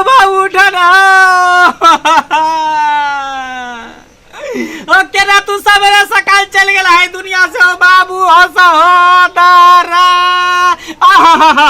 बाबू उठा ना ओ केना तू सवेरे सकाल चल गेल है दुनिया से ओ बाबू ओ सहोदरा आहा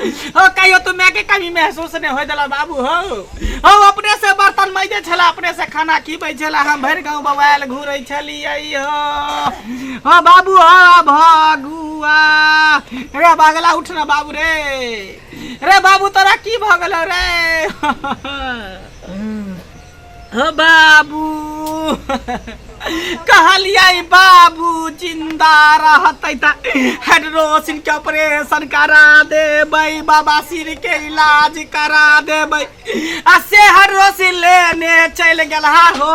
हो कहियो तू मैं के कमी महसूस नहीं हो दिला बाबू हो हो अपने से बर्तन मैजे छला अपने से खाना खीबै छला हम भर गांव बवाल घूरै छलिए हो हो बाबू हो भगुआ रे बागला उठ ना बाबू रे रे बाबू तोरा की भगल रे हो बाबू कहलिए बाबू जिंदा रहते त हाइड्रोसिन के ऑपरेशन करा देबै बाबा सिर के इलाज करा देबै आ से हाइड्रोसिन लेने चल गेल हा हो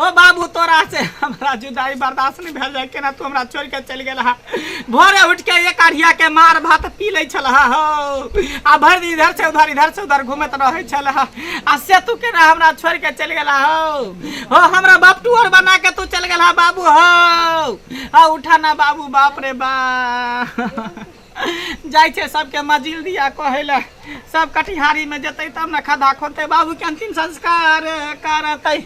ओ बाबू तोरा से हमरा जुदाई बर्दाश्त नहीं भेल जाए केना तू हमरा छोड़ के चल गेल हा भोरे उठ के एक अढ़िया के मार भात पी ले छल हा हो आ भर दिन इधर से उधर इधर से उधर घूमत रहे छल हा आ से तू केना हमरा छोड़ के चल गेल हा हो हो हमरा बाप तू और बना के तू चल गेल हा बाबू हो आ उठा ना बाबू बाप रे बा जाइ छै सबके मजिल दिया कहै लए सब कटिहारी में जेतै तब ने खदा खोदतै बाबू के अंतिम संस्कार करतै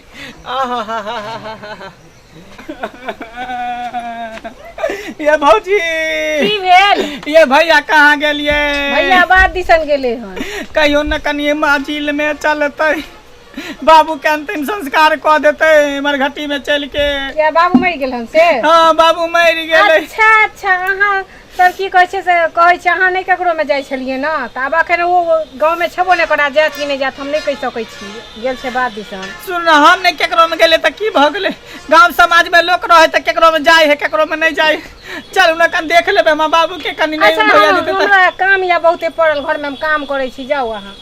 ये भौजी की भेल ये भैया कहाँ गेलिए भैया बात दिसन गेले हन कहियो न कनिए माजिल में चलतै बाबू के अंतिम संस्कार कऽ देतै मरघटी में चलि के किया बाबू मरि गेल हन से हाँ बाबू मरि गेलै अच्छा अच्छा अहाँ तब की कहै छै से कहै छै अहाँ नहि ककरोमे जाइ छलियै ने तऽ आब एखन ओ गाँवमे छेबो नहि करा जायत कि नहि जायत हम नहि कहि सकै छी गेल छै बात दिसन सुन ने हम नहि ककरोमे गेलै तऽ की भऽ गेलै गाँव समाजमे लोक रहै तऽ ककरोमे जाइ है ककरोमे नहि जाइ है चल हमरा कन देख लेबै हमर बाबूके कनि नहि अच्छा हम- भैया जेतै तऽ हमरा काम यऽ बहुते पड़ल घरमे हम काम करै छी जाउ अहाँ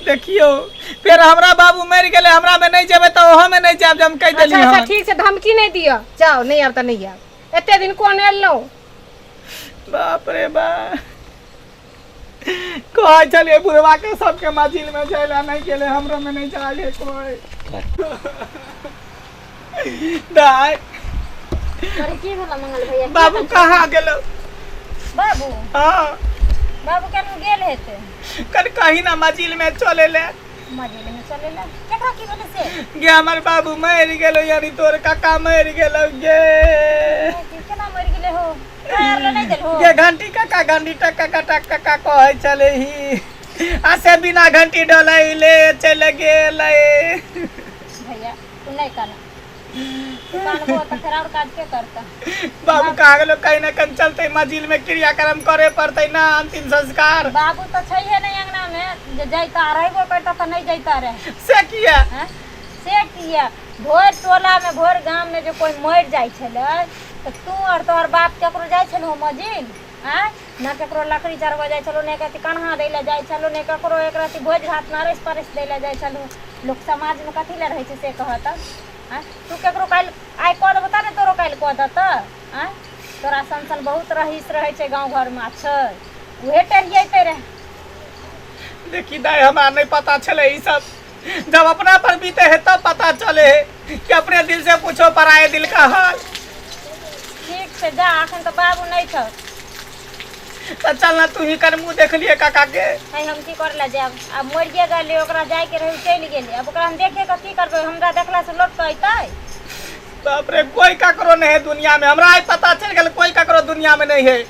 देखियौ फेर हमरा बाबू मरि गेलै हमरामे नहि जेबै तऽ ओहोमे नहि जायब जे हम कहि अच्छा देलियै अच्छा हन ठीक छै धमकी नहि दिअ जाउ नहि आयब तऽ नहि आयब एते दिन कोन एलहुँ बाप रे बा कहै छलिए बुढ़वा के सबके मजिल में जाय ला नहीं गेले हमरो में नहीं जाय है कोई दाय अरे की भेल मंगल भैया की बाबू भेल? कहाँ गेलो बाबू हाँ बाबू केन गेल हेतै कल कहीं ना मजिल में चले ले मजेले में चलेला केकरा की बोले से गे हमर बाबू मरि गेलो यानी तोर काका मरि गेलो गे केना मर गेले हो काहे हमरा नहीं देल हो गे घंटी काका घंटी टक काका टक काका कहै छले ही आ से बिना घंटी डलैले चले गेलै भैया तू नहीं कहना दुकान पर तऽ फेर आओर काज के करतै बाबू कहा गेलो कहीं ने कहीं चलते मजिल में क्रियाक्रम करे पड़ते ना अंतिम संस्कार बाबू तऽ छैहे नहि अंगना मे जे जैता रहबो करता तऽ नहि जैता रहे से किया हैं? से किया भोर टोला मे भोर गाम मे जे कोई मरि जाइ छलै तऽ तू और तोहर बाप केकरो जाइ छलहो मजिल आँय ने केकरो लकड़ी चढ़बऽ जाइ छलहुँ ने कथी कन्हा दै लए जाइ छलहुँ ने ककरो एक रत्ती भोज भातमे अरैस परैस दै लए जाइ छलहुँ लोक समाजमे कथी लए रहै छै से कहऽ तऽ आँय तू केकरो काल्हि आइ कऽ देबौ तब ने तोरो काल्हि कऽ देतऽ आँय तोरा सन सन बहुत रहीस रहै छै गाँव घरमे आ छै उहे टेढ़ियेतै रहए देखी दाइ हमरा नहि पता छलै ई सब जब अपना पर बीते है तब पता चले है कि अपने दिल से पूछो पराए दिल का हाल ठीक छै जा अखन तऽ बाबू नहि छौ तो चल ना तू ही कर मुँह देख लिए काका के है हम की कर ले जायब आब मरिए गेलै ओकरा जायके रहै ओ चलि गेलै आब ओकरा हम देखे कऽ की करबै हमरा देखलासँ लोक तऽ अयतै बाप रे कोई ककरो नहीं है दुनिया में हमरा आज पता चल गया कोई ककरो दुनिया में नहीं है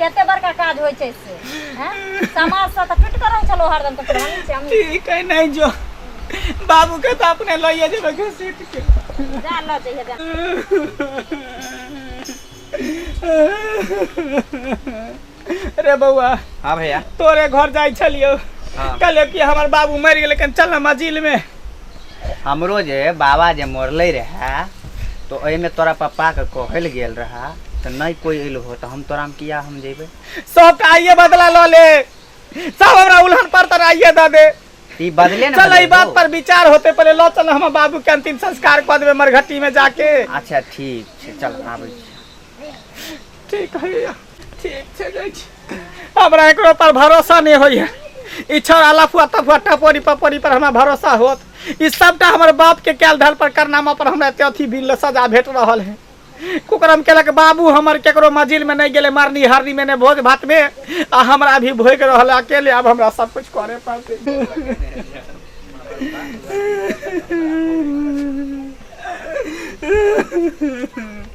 कते बड़का काज होइ छै से हैं समाज से तऽ टूट के रहै छलो हरदम तऽ फेर हमही छै हमही ठीक है नहीं जो बाबू के तो अपने लइए जेबे घसीट के जा लऽ जइहे जा रे बौआ हाँ भैया तोरे घर जाइ छलियो हाँ। कहलियो कि हमर बाबू मरि गेलै कन चल ना मजिल में हमरो जे बाबा जे मरले रहे तो में तोरा पप्पा के कहल गेल रहा तो नहीं कोई अल हो तो हम तोरा में किया हम जेबे सब का आइए बदला लो ले सब हमरा उल्हन पर तर आइए द दे ई बदले ना चल ई बदले बात दो। पर विचार होते पहले लो चल हम बाबू के अंतिम संस्कार कर देबे मरघटी में जाके अच्छा ठीक छै चल आबै छी। ठीक है ठीक छै जाइ छी हमरा एकरो पर भरोसा नहि होइए ई छड़ अलफुआ तफुआ टपोरी पपोरी पर हमरा भरोसा होत ई सबटा हमर बाप के कैल धल पर करनामा पर हमरा एते अथी बिल सजा भेट रहल है कुकरम केलक बाबू हमर केकरो मजिल में नहीं गेले मरनी हरनी में ने भोज भात में आ हमरा भी भोग रहल अकेले अब हमरा सब कुछ करे पड़ते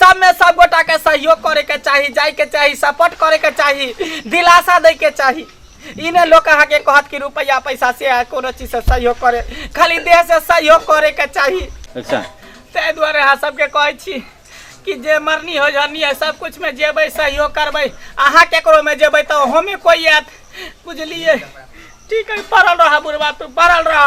सब में सब गोटा के सहयोग करे के चाही जाए के चाही सपोर्ट करे के चाही दिलासा दे के चाही ई ने लोग अहाँ के कहत कि रुपया पैसा से आ कोनो चीज से सहयोग करे खाली देह से सहयोग करे के चाही अच्छा ताहि दुआरे अहाँ सबके कहै छी कि जे मरनी हो जरनी है सब कुछ में जेबै सहयोग करबै अहाँ केकरो में जेबै तऽ ओहोमे कोइ आयत बुझलियै ठीक है पड़ल रह बुढ़बा तू पड़ल रह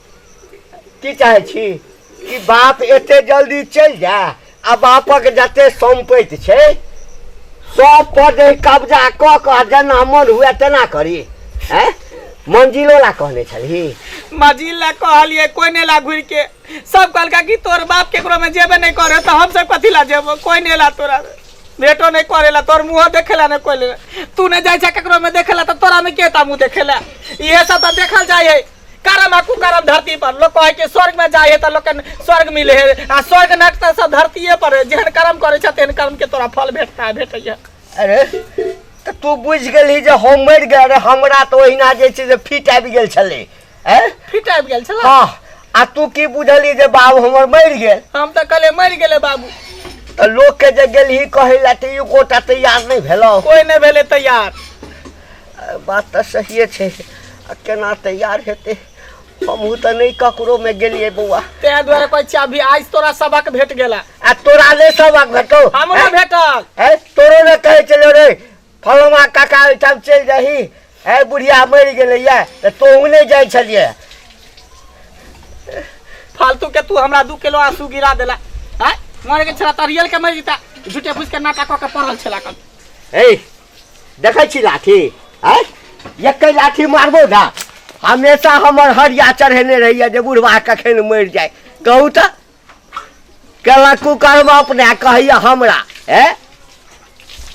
की चाहे छी कि बाप एते जल्दी चलि जाए आ बापक जते सम्पति छै सब पर जे कब्जा कऽ कऽ जेना मन हुए तेना करी हैं मंजिलो ला कहने छलही मजिल ला कहलिए कोई ने ला घुर के सब कहलका कि तोर बाप केकरो में जेबे नहीं करे तो हम सब कथी ला जेबो कोई ने ला तोरा भेटो नहीं करेला तोर मुंह देखेला नहीं कोई ले तू ने जाय छै केकरो में देखेला तो तोरा में केता मुंह देखेला इहे सब तो देखल जाय है करम आ कुकरम धरती पर लोग कहे कि स्वर्ग में जाए तो लोग के स्वर्ग मिले है आ स्वर्ग नट तो सब धरतीये पर है जेहन कर्म करे छे तेहन कर्म के तोरा फल भेटता है भेटैया अरे तऽ तू बुझि गेलही जे हम मरि गेल रहे हमरा तऽ ओहिना जे छै से फिट आबि गेल छलै ए फिट आबि गेल छला हँ आ तू की बुझली जे बाबू हमर मरि गेल हम तो कहले मर गेले बाबू तऽ लोकके जे गेलही कहै लए तऽ ई गोटा तैयार नहि भेलौ कोई नहीं भेले तैयार बात तऽ सहिए छै आ केना तैयार हेतै हमहूँ तऽ नहि ककरोमे गेलियै बौआ ताहि दुआरे कहै छियै अभी आज तोरा सबक भेट गेला आ तोरा नहि सबक भेटौ हम नहि भेटल है तोरो ने कहै छलियौ रे फलमा काका ओहिठाम चलि जाही है बुढ़िया मरि गेलैए तऽ तोहूँ नहि जाइ छलियै फालतू के तू हमरा दू किलो आंसू गिरा देला हैं मरे के छला तरियल के मर जीता झूठे फूस के नाटक कऽ के पड़ल छला कल हे देखै छी लाठी आय एकै लाठी मारबो ने हमेशा हमर हरिया चढ़ेने रहैए जे बुढ़वा कखन मरि जाय कहू तऽ केलक कुकर्म अपने कहैए हमरा ए